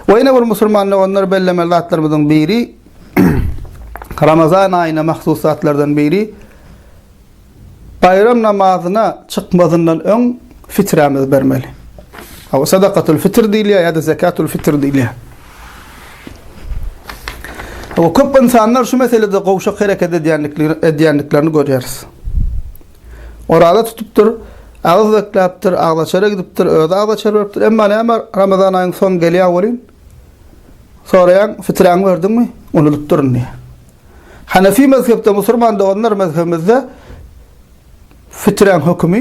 Ve ýene bir musulman doganlar bellemeli zatlarymyzyň biri Ramazan aýyna mahsus zatlardan biri baýram namazyna çykmazyndan öň fiträmizi bermeli. Hawa sadakatul fitr diýilýär ýa-da zekatul fitr diýilýär. Hawa, köp ynsanlar şu meselede gowşak hereket edýändiklerini görýäris. Oraza tutupdyr, agyz bekläpdir, agzaçara gidipdir, özi agzaçar beripdir. Emma näme, Ramazan aýyň soňy gelýär welin, soraýaň, fiträňi berdiňmi? Unudypdyryn diýýär. Hanefi mezhepde, musulman doganlar, mezhebimizde fiträň hökümi,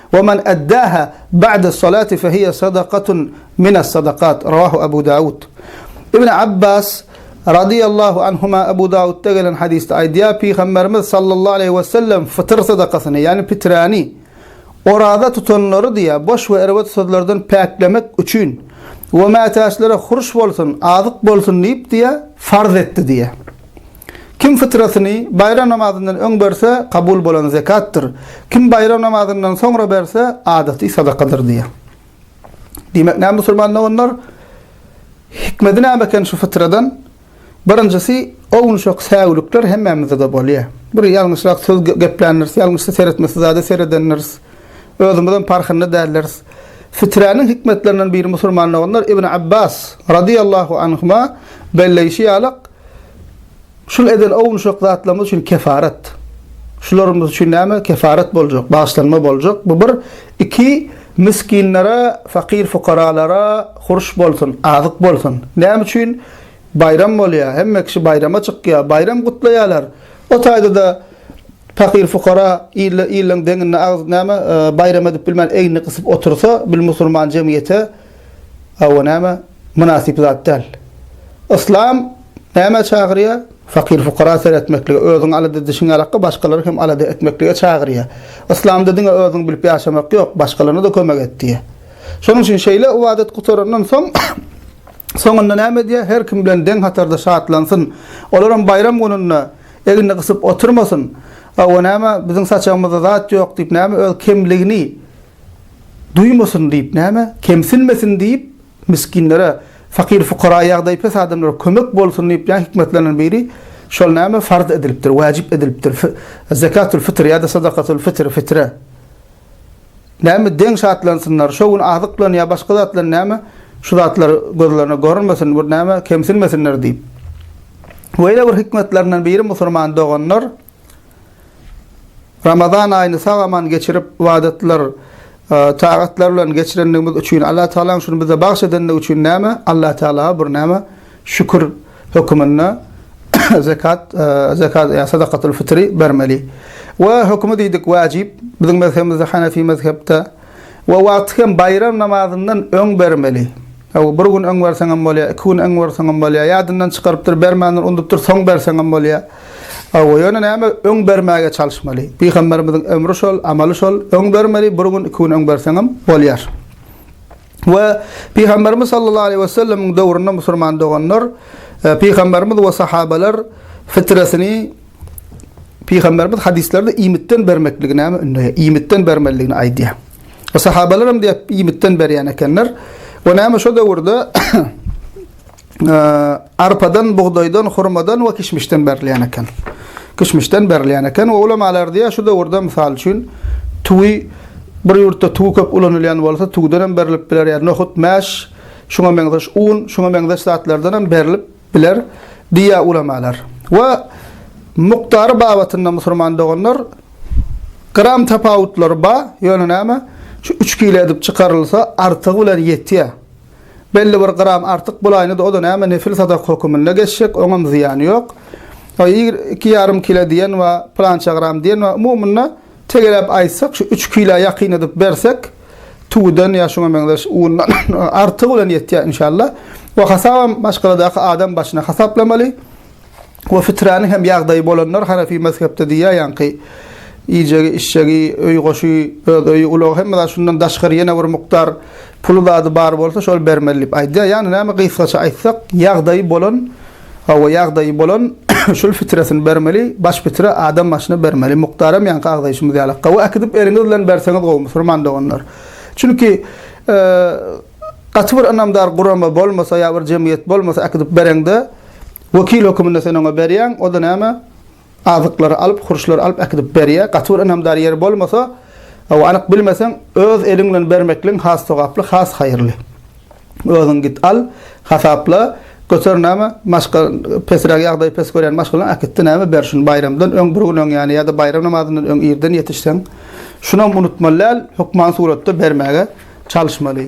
Ve men eddaha ba'des salati fehiye sadakatun mines sadakat, Revahu Ebu Davud. İbni Abbas, Radiyallahu anhuma, Ebu Davudda gelen hadiste aýdýar, Pygamberimiz, Sallallahu aleyhi ve sellem, fytyr sadakasyny, yani pitrani, oraza tutanlary diýýär, boş ve erbet sözlerden päklemek üçin, ve mätäçlere hurş bolsun, azyk bolsun diýip diýýär, farz etdi diýýär. Kim fytratyny baýram namazyndan öň berse, kabul bolan zekatdyr. Kim baýram namazyndan soňra berse, adaty sadakadyr diýýär. Diýmek, näme musulman doganlar? Hikmedi näme eken şu fytradan? Birinjisi, o gün şo säwlikler hemmämize-de bolýar. Bir ýalňyşrak söz gepländiris, ýalňyşsa seretmesi zada seredendiris. Özümizem parhynda däldiris. Fiträniň hikmetlerinden biri musulman doganlar Ibn Abbas, radyýallahu anhuma, belleýşi ýaly, Şul eden ownuşak zatlarymyz üçin kefaret. Şularymyz üçin näme? Kefaret boljak, bagyşlanma boljak. Bu bir. Iki, miskinlere, fakir-fukaralara hurş bolsun, azyk bolsun. Näme üçin? Baýram bolýar, hemme kişi baýrama çykýar, baýram gutlaýarlar. O taýda-da, Pakyr-fukara il-iliň deňinde agz näme, baýram edip bilmän egnini gysyp otursa, bil musulman jemgyýete hawa näme, mynasyp zat däl. Yslam nämä çagyrýar? Pakyr-fukara seretmeklige, özüň alada edişiň ýalakka başgalary hem alada etmeklige çagyrýar. Yslamda diňe özüň bilip ýaşamak ýok, başgalaryna-da kömek et diýýär. Şonuň üçin şeýle ybadat gutarandan soň soňunda näme edýär? Her kim bilen deň hatarda şatlansyn. Olar hem baýram gününde. Egnini gysyp oturmasyn. Hawa, näme, biziň saçagymyzda zat ýok diýip, näme, öz kemligini duýmasyn diýip, näme, kemsinmesin diýip, misginlere, fakir-fukara, ýagdaýy pes adamlara kömek bolsun diýip, ýa hikmetlerinden biri, şol näme, farz edilipdir, wajyp edilipdir, fi, zekatul-fitr ýa-da sadakatul-fitr, fitre. Näme deň şatlansynlar, şo gün azyk bilen ýa başga zat bilen näme şu zatlar gözlerine görünmesin, bir näme kemsinmesinler diýip. Beýle bir hikmetlerinden biri musulman doganlar Ramazan aýyny sag-aman geçirip, ybadatlar, tagatlar bilen geçirendigimiz üçin, Allatagalaň şuny bize bagş edendigi üçin näme, Allatagala bir näme Şükür höküminde zekat, zekat ýa sadakatul fitri bermeli. We hökümi diýdik wajyp, biziň mezhebimizde hanefi mezhepde we wagty hem baýram namazyndan öň bermeli. Aw bir gün öň berseň hem bolýar, iki gün öň berseň hem bolýar, ýadyndan çykarypdyr, bermändir, unudupdyr, soň berseň hem bolýar. Aw ýöne näme öň bermäge çalyşmaly. Pygamberimiziň emri şol, amaly şol, öň bermeli, bir gün, iki gün öň berseň hem bolýar. We Pygamberimiz sallallahu aleýhi we sellemiň döwründe musulman doganlar e, Pygamberimiz we sahabalar fitresini Pygamberimiz hadislerde iýmitden bermekligi näme ündeýär? Iýmitden bermeligini aýdýar. We sahabalar hem diýip iýmitden berýän ekenler. We näme şu döwürde arpadan, bugdaýdan, hurmadan we kişmişden berilýän eken. Kişmişden berilýän eken we ulamalar diýýär, şu döwürde mysal üçin tüwi bir ýurtda tüwi köp ulanylýan bolsa, tüwden hem berilip biler, ýa nohut, mäş, şuňa meňzeş un, şuňa meňzeş zatlardan hem berilip biler diýýär ulamalar. We mukdary babatynda musulman doganlar gram tapawutlary bar, ýöne näme? Şu üç kile edip çykarylsa, artygy bilen ýetýär. Belli bir gram artyk bolaýna-da o-da näme nefil sadak höküminde geçjek, oňam zyýany ýok. A ýigr iki ýarym kile diýen ba, pylança gram diýen ba, umumynda tegeläp aýtsak, şu üç kilä ýakyn edip bersek, tüwüden ýa şuňa meňzeş undan artygy bilen ýetýär inşallah. Bu hasabam maşgaladaky adam başyna hasaplamaly. we fitrany hem ýagdaýy bolanlar hanefi mezhepde diýýär ýaňky iýjegi içjegi öý goşy öz öýi ulag hemme zat şundan daşgary ýene bir mukdar puly zady bar bolsa şol bermeli diýip aýdýar ýagny näme gysgaça aýtsak ýagdaýy bolan hawa ýagdaýy bolan şul fitresini bermeli baş fitre adam başyna bermeli mukdaram ýaňky agzaýşymyz ýaly gowy äkidip eliňiz bilen berseňiz gowy musulman doganlar çünki e, gaty bir ynamdar gurama bolmasa ýa bir jemgyýet bolmasa äkidip bereňde Wekil höküminde sen oňa berýäň, o-da näme, azyklary alyp, hurçlary alyp äkidip berýär. Gaty bir ynamdar ýeri bolmasa, hawa, anyk bilmeseň, öz eliň bilen bermekligiň has sogaply, has haýyrly. Özüň git al, hasapla, göter näme, maşgal, pesräk ýagdaýy pes görýän maşgalaň äkitdi näme, ber şuny baýramdan öň bir gün öň ýa-ni ýa-da baýram namazyndan öň irden ýetişseň, şunam unutmaly däl, hökman suratda bermäge çalyşmaly.